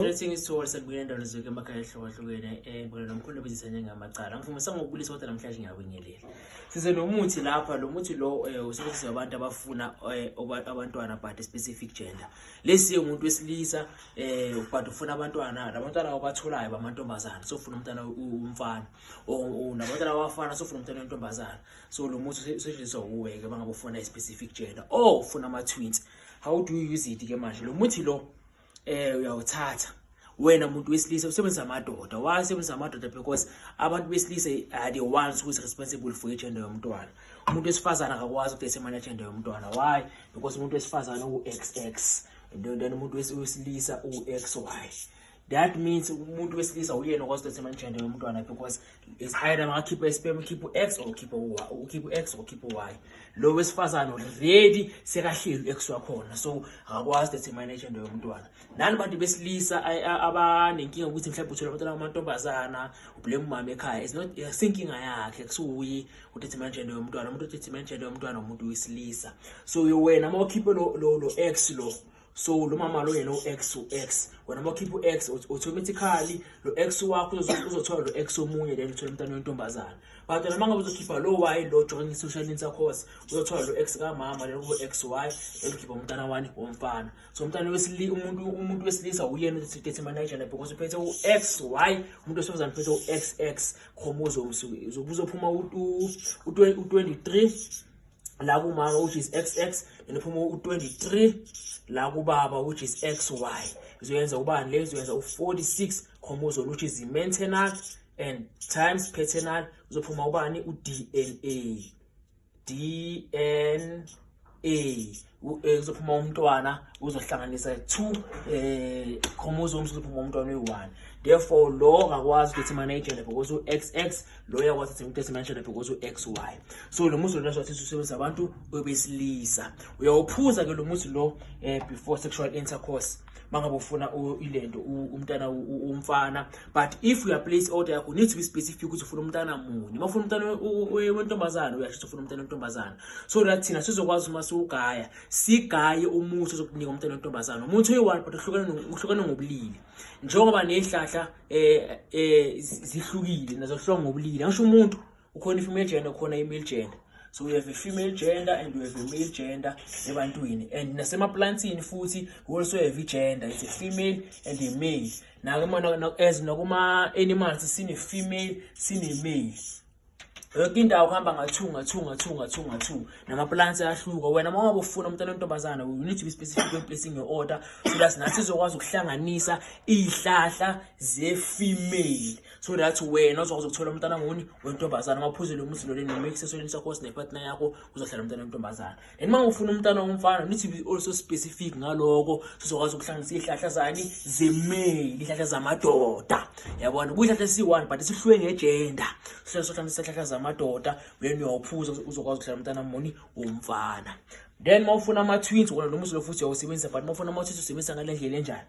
Greetings to all sekubuyela ndalo zonke emakhaya ehlukahlukene eh ngibona nomkhulu obizisa njengamacala ngifumisa ngokubulisa kodwa namhlanje ngiyabingelela size nomuthi lapha lo muthi lo eh, usebenzisa abantu abafuna eh, abantwana but specific gender lesi umuntu wesilisa eh but ufuna abantwana labantwana abatholayo bamantombazana so ufuna umntana umfana o nabantwana abafana so ufuna umntana wentombazana so lo muthi usetshenziswa uwe ke bangabufuna i specific gender oh ufuna ama twins how do you use it ke manje lo muthi lo eh uyawuthatha wena muntu wesilisa usebenzisa amadoda why usebenzisa amadoda because abantu besilisa are the ones who is responsible for igender yomntwana umuntu wesifazane akakwazi ukuthi esemane igender yomntwana why because umuntu wesifazane u-xx then umuntu wesilisa u-xy that means umuntu wesilisa uyena okwazi ukuthi esemane igender yomntwana because is either makakhipha isperm ukhipha u-x or ukhipha u-y ukhipha u-x or ukhipha u-y lo wesifazane already sekahleli u-x wakhona so akakwazi that manage into yomntwana nani bantu besilisa abanenkinga ukuthi mhlawumbe uthole abantwana bamantombazana ublame umama ekhaya is not sinkinga yakhe kusuyi udetermine gender yomntwana umuntu udetermine gender yomntwana umuntu wesilisa so wena uma ukhiphe lo lo ex lo so lo mama lo yena u-x u-x wena uma ukhipha u-x automatically lo x wakho uzothola lo x omunye then uthole umntana wentombazana but wena uma ngabe uzokhipha lo y lo join i-social inter course uzothola lo x kamama then kube x y then ukhipha umntana wani womfana so umntana wesili umuntu umuntu wesilisa uyena uthi dethi manager lapho because uphethe u-x y umuntu wesifazane uphethe u-x x chromosomes uzophuma u-23 la kumama which is xx then phuma u23 la kubaba which is xy izoyenza ubani le izoyenza u46 chromosome which is maternal and times paternal uzophuma ubani uDNA DNA Eh, kuzophuma umntwana uzohlanganisa two um eh, chromosomes kuzophuma umntwana uyi-one therefore lo akakwazi ukuthi manejele because u-x x lo uyakwazi ukuthi ngitesi manejele because u-x y so lo muzi lona sothi usebenzisa abantu obesilisa uyawuphuza ke lo muzi lo um before sexual intercourse mangabe ufuna ilento umntana umfana but if you are place order yakho need to be specific ukuthi ufuna umntana munye uma ufuna umntana wentombazana uyasho ukuthi ufuna umntana wentombazana so that thina sizokwazi uma siwugaya sigaye umuthi ozokunika umntana wentombazana umuthi oyi-one but uhlukane ngobulili njengoba ney'hlahla um eh, um eh, zihlukile nazohlwa ngobulili angisho umuntu ukhona i-female gender ukhona i-male gender so we have a female gender and we have a male gender ebantwini and nasemaplantini futhi we also have i-gender it's a female and a male as nakuma-animals sine-female sine-male yonke indawo kuhamba nga-two nga-two nga-two nga-two nga-two namaplants ayahluka wena uma wabe ufuna umntana wentombazana you need to be specific when placing your order so that nathi izokwazi ukuhlanganisa iy'hlahla ze-female so that wena uzokwazi ukuthola umntana nguni wentombazana uma uphuzile umuzi lole nomix esonini sakho sinepartner yakho uzohlala umntana wentombazana and uma ufuna umntana womfana need to be also specific ngaloko sizokwazi ukuhlanganisa izihlahla zani zemeli izihlahla zamadoda yabona kuyihlahla esiyi-one but sihlwe ngejenda sihlale sohlanganisa izihlahla zamadoda when uyawuphuza uzokwazi ukuhlala umntana muni womfana then uma ufuna ama-twins wona lo muzi lo futhi uyawusebenzisa but uma ufuna ama-twins usebenzisa ngale ndlela enjani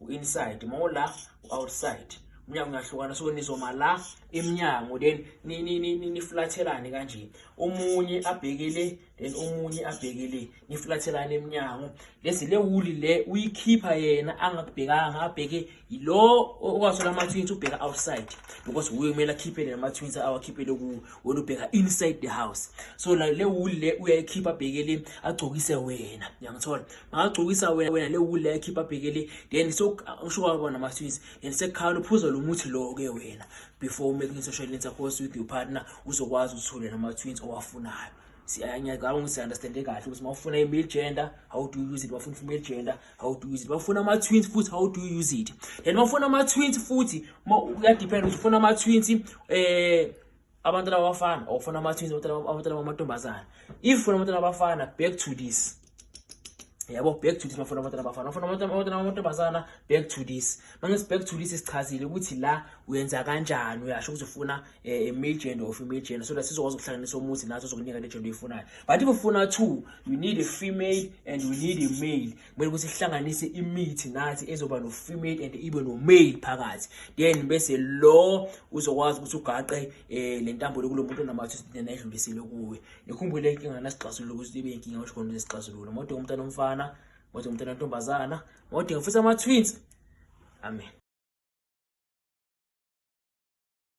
u-inside uma ula u-outside umnyango ungahlukana so nizoma la emnyango then niflathelane kanje omunye abhekele then omunye abhekele niflathelane emnyango lesi le wuli le uyikhipha yena angakubhekanga abheke yilo okwaso lama twins ubheka outside because uye kumele akhiphele lama twins awakhiphele ku wena ubheka inside the house so la le wuli le uyayikhipha abhekele agcokise wena uyangithola angagcokisa wena wena le wule yakhipha abheke le then usho kwabo namaswisi then sekhala uphuza lo muthi lo-ke wena before umaking social lens yakho with your partner uzokwazi uthule nama-twins owafunayo ngiyacabanga ukuthi understande kahle ukuthi uma ufuna i-male gender how do you use it bafuna i-female gender how do you use it bafuna ama-twins futhi how do you use it then bafuna ama-twins futhi kuyadependa ukuthi ufuna ama-twins um abantwana abafana or ufuna ama-twins abantwana bamantombazana if ufuna abantwana abafana back to this yabo back to this mafuna abantwana abafana ufuna abantwana bamantombazana back to this mangithi back to this sichazile ukuthi la uyenza kanjani uyasho ukuthi ufuna um eh, male gender or female gender so that sizokwazi ukuhlanganisa umuthi naso sokunika le gender oyifunayo but if ufuna two you need a female and you need a male kumele ukuthi sihlanganise imithi nathi ezoba no-female and ibe no-male phakathi then bese lo uzokwazi ukuthi ugaqe um eh, le ntambo lokulo muntu onamathu then ayidlulisile kuwe nikhumbule inkinga nasixazulula ukuthi ibe inkinga osho khona nesixazulula mode umntana omfana mode umntana ontombazana mode ngifisa ama-twins amen